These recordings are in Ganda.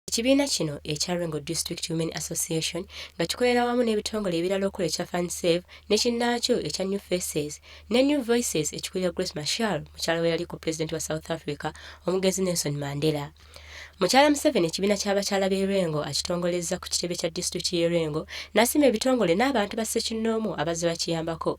Ekibiina kino ekya Lwengo District Women Association nga kikolera wamu n'ebitongole ebirala okola ekya Fund Save ne kinnaakyo ekya New Faces ne New Voices ekikulira Grace Machel mukyala we yaliko pulezidenti wa South Africa omugenzi Nelson Mandela. Mukyala Museveni ekibiina ky'abakyala b'e Lwengo akitongolezza ku kitebe kya disitulikiti y'e Lwengo n'asiima ebitongole n'abantu ba ssekinnoomu abazze bakiyambako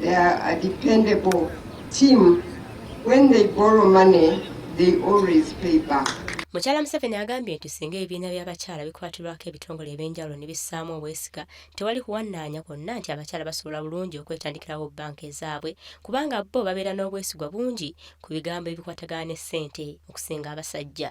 They are a dependable team. When they borrow money, they always pay back. Mukyala Museveni agambye nti singa ebibiina by'abakyala bikwatirwako ebitongole eby'enjawulo ne bissaamu obwesiga tewali kuwannaanya kwonna nti abakyala basobola bulungi okwetandikirawo bbanka ezaabwe kubanga bo babeera n'obwesigwa bungi ku bigambo ebikwatagana ne ssente okusinga abasajja.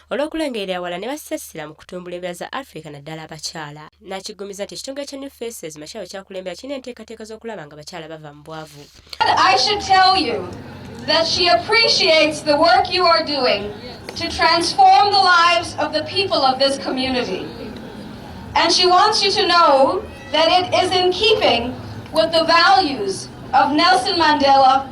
olw'okulengerera ewala ne bassa essira mu kutumbula embeera za Afrika naddala abakyala n'akiggumiza nti ekitongole kya New Faces Machar kyakulembera kirina enteekateeka z'okulaba nga abakyala bava mu bwavu that she appreciates the work you are doing to transform the lives of the people of this community. And she wants you to know that it is in keeping with the values of Nelson Mandela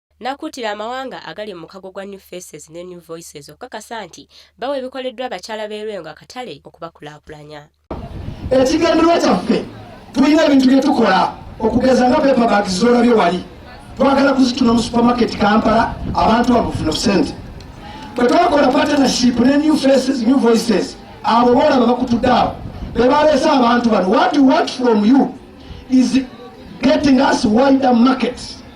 n'akuutira amawanga agali mu mukago gwa New Faces ne New Voices okukakasa nti bawa ebikoleddwa abakyala b'e Lwengo akatale okubakulaakulanya. Ekigendererwa kyaffe tulina ebintu bye tukola okugeza nga paper bags z'olabye wali twagala kuzituna mu supermarket Kampala abantu babufuna obusente bwe twakola partnership ne New Faces New Voices abo boolaba bakutudde abo be baleese abantu bano what we want from you is getting us wider markets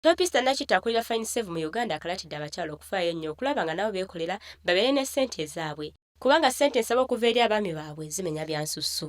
Topista Nakita akulira Fine Save mu Uganda akalatidde abakyala okufaayo ennyo okulaba nga nabo beekolera babeere ne ssente ezaabwe kubanga ssente ensaba okuva eri abaami baabwe zimenya byansusso.